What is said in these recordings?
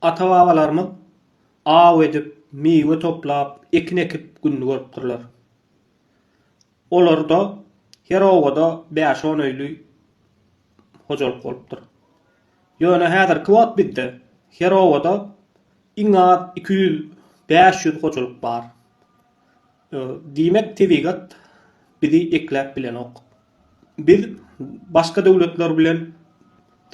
Ata-babalarymyz aw edip, miwe toplap, ekin ekip gününi görüpdirler. Olarda her obada bäş-on öýli hojalyk bolupdyr. Ýöne häzirki wagt bizde her obada iň az iki ýüz, bäş ýüz hojalyk bar. Diýmek, tebigat bizi ekläp bilenok. Biz başga döwletler bilen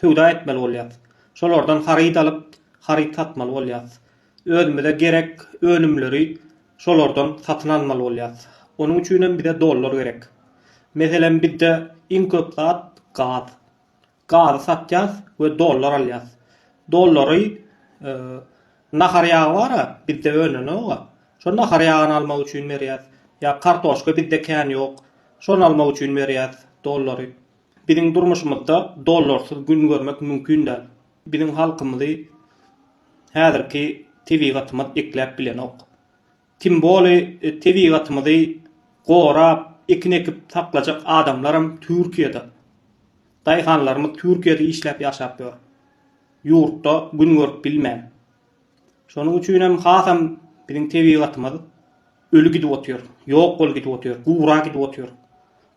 söwda etmeli bolýarys. Şolardan haryt alyp, haryt satmaly bolýarys. Özümize gerek önümleri şolardan satyn almaly bolýarys. Onuň üçin hem bize dollar gerek. Meselem, bizde iň köp zat gaz. gazy satýas we dollar alýas. Dollary nahar ýagy bar-a, bizde önenok-a. Şo nahar ýagyny almak üçin berýäs. Ýa kartoşka bizde kän ýok. Şony almak üçin berýäs dollary. Biziň durmuşymyzda dollarsyz gün görmek mümkin däl. Biziň halkymyzy häzirki tebigatymyz ekläp bilenok. Kim boli tebigatymyzy gorap ekin ekip saklajak adamlaram Türkiýede. Daýhanlarymyz Türkiýede işläp ýaşap ýör. Ýurtda gün görüp bilmän. Şonuň üçinem hasam biziň tebigatymyz öli gidip otyr. Ýok boli gidip otyr. Gura gidip otyr.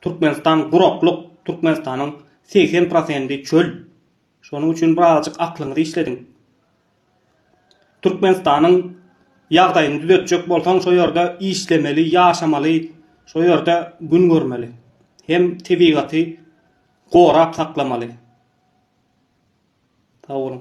Türkmenistan guraklyk Türkmenistanyň segsen prosendi çöl. Şonuň üçin birazjyk aklyňyzy işlediň. Türkmenistanyň ýagdaýyny düzetjek bolsaň şo ýerde işlemeli, ýaşamaly, şo ýerde gün görmeli. Hem tebigaty gorap saklamaly. Sag boluň.